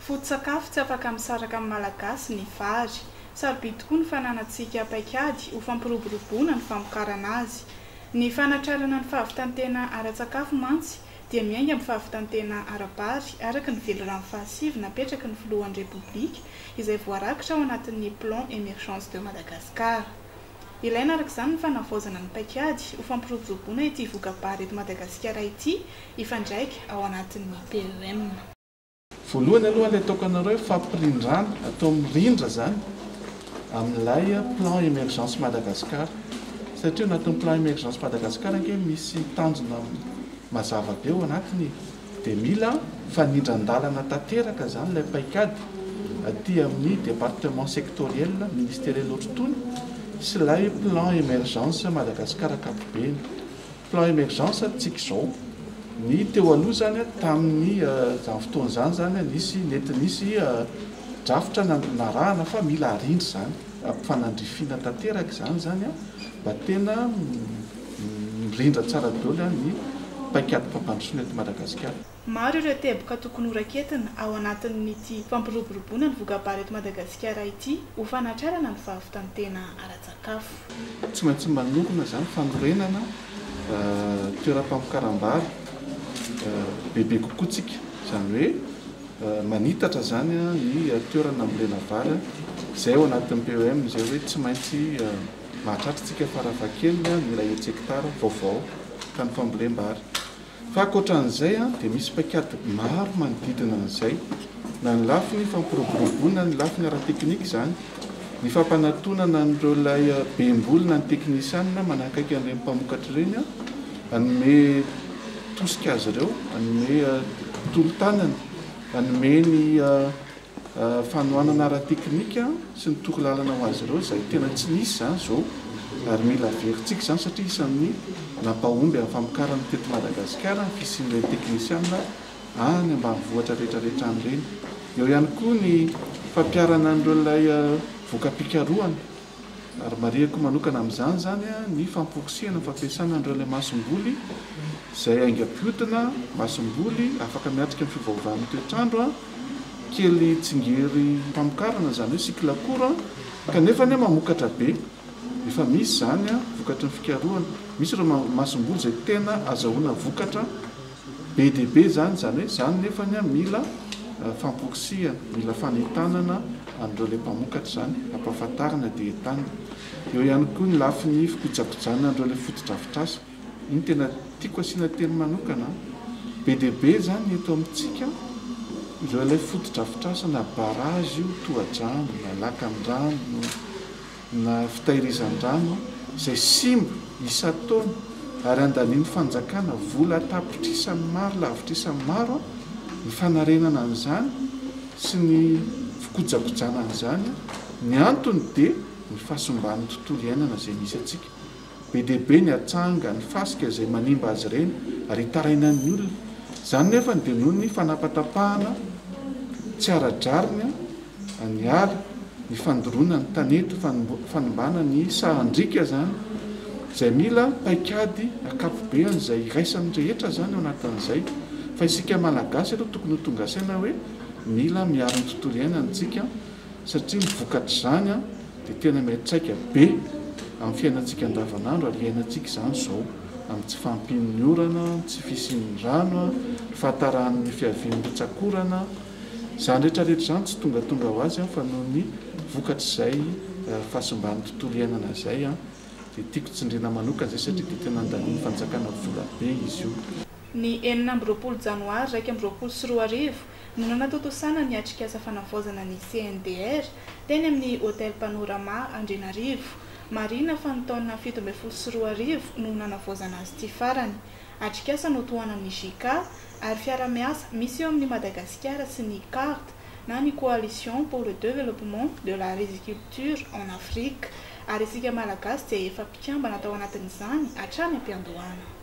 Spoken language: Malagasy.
Foto-tsakafo tsy afaka misaraka amin'ny Malagasy ny vary. Sarobidy tokoa ny fananantsika paikady ho fampiroboroboana ny famokarana azy. Ny fanatrarana ny fahavitan-tena ara-tsakafo mantsy dia miainga amin'ny fahavitan-tena ara-bary araka ny velirano fahasivy napetraky ny Filohan'ny Repoblika izay voarakitra ao anatin'ny Plan Emergence de Madagascar. Ilaina araka izany ny fanavaozana ny paikady ho fampiroboroboana ity voka-bary eto Madagasikara ity hifandraika ao anatin'ny PEM. Voalohany aloha ilay ataoko anareo fampirindràna atao mirindra izany amin'ilay plan Emergence Madagascar satria ao anatin'ny plan Emergence Madagascar ange misy tanjona mazava be ao anatiny e! dia mila fanindran-dàlana tanteraka izany ilay paikady aty amin'ny département sectoriel ministeriel ohatry itony sy ilay plan Emergence Madagascar ankapobeny. Plan emergence antsika izao, ny teo aloha izany tamin'ny izany fotoana izany izany nisy nety nisy drafitra nanarahana fa mila arindra izany, ampifanandrifiana tanteraka izany izany an, mba tena mirindra tsara daholo ny paikady mpampandrosoana eto Madagasikara. Maro ireo teboka tokony horaketina ao anatin'ity fampiroboroboana ny voka-bary eto Madagasikara ity ho fanatrarana ny fahavitan-tena ara-tsakafo. Tsy maintsy manokana izany fanorenana toeram-pamokaram-bary bebe kokoa isika, izany hoe manitatra izany ny toerana hambolena vary, izay ao anatin'ny PEM izay hoe tsy maintsy mahatratra isika farafahakeliny ny iray hetsy hektara vaovao ka ny fambolem-bary. Fa ankoatra an'izay dia misy paikady maro manodidina an'izay, na ny lafiny fampiroboroboana, na ny lafiny ara-teknika izany, ny fampanatonana an'ireo ilay be mboly na ny teknisianina manakaiky an'ireny mpamokatra ireny, hanome tosika azy ireo, hanome tolo-tanana, hanome ny. Fanohanana ara-teknika sy ny torolalana ho azy ireo izay tena tsy nisy izany izao ary mila averintsika izany satria isan'ny nampahomby amin'ny famokarana teto Madagasikara ny fisian'ireny teknisianina any ambanivohitra rehetra rehetra any ireny. Eo ihany koa ny fampiharana an'ireo lay voka-pikarohana. ary marihako manokana amin'izany izany ny fampokosehana ny fampiasana an'ireo ilay masomboly izay aingam-pihodina, masomboly afaka miatrika ny fiovaovan'ny toetr'andro, kely tsingerim-pamokarana izany hoe cycle court kanefa anie mamokatra be, efa misy izany vokatry ny fikarohana, misy ireo masomboly izay tena azahoana vokatra. Be dia be izany, izany hoe izany nefany mila famporisihana, mila fanentanana an'ireo ilay mpamokatra izany, ampahafantarina dia entanina. Eo ihany koa ny lafiny fikojakojana an'ireo ilay fotodrafitrasa. Iny tena tiako asiana teny manokana. Be dia be izany eto amintsika ireo ilay fotodrafitrasa na barrage io, tohadrano, na lakandrano, na fitahirizan-drano izay simba isan-taona ary andanian'ny fanjakana vola tapitrisa ny maro lavitrisa ny maro ny fanarenana an'izany sy ny fikojakojana an'izany, ny antony dia ny fahasimban'ny tontolo iainana izay misy antsika Be dia be ny atsanga, ny fasika izay manimba azy ireny ary hitarainan'ny olona. Izany nefa dia noho ny fanapatapahana tsy ara-drariny ny ala, ny fandoroana ny tanety, fanimbana ny sahan-driaka izany izay mila paikady ankapobeny izay iraisan'ny rehetra izany ao anatin'izay fa isika Malagasy aloha tokony ho tonga saina hoe mila miaro ny tontolo iainantsika satria ny vokatr'izany dia tena miantraika be amin'ny fiainantsika andavanandro ary iainantsika izany izao amin'ny tsy fahampian'ny orana, ny tsy fisian'ny rano, ny fahatarahan'ny fiavian'ny rotsak'orana, izany rehetra rehetra izany tsy tongatonga ho azy fa noho ny vokatr'izay fahasimban'ny tontolo iainana izay dia tiako tsindriana manokana izay satria dia tena andanin'ny fanjakana vola be izy io. Ny enina amby roapolo janoary iraika amby roapolo sy roa arivo no nanatontosana ny atrikasa fanavaozana ny CNDR teny amin'ny Hotel Panorama Andrianarivo. Marihina fa ny taona fito ambin'ny folo sy roa arivo no nanavaozana azy ity farany. Atrikasa notohanan'ny JICA ary fiarahamiasa misy eo amin'i Madagasikara sy ny card na ny Coalition pour le Developpement de la Riziculture en Afrique ary isika Malagasy dia efa mpikambana tao anatin'izany hatrany am-piandohana.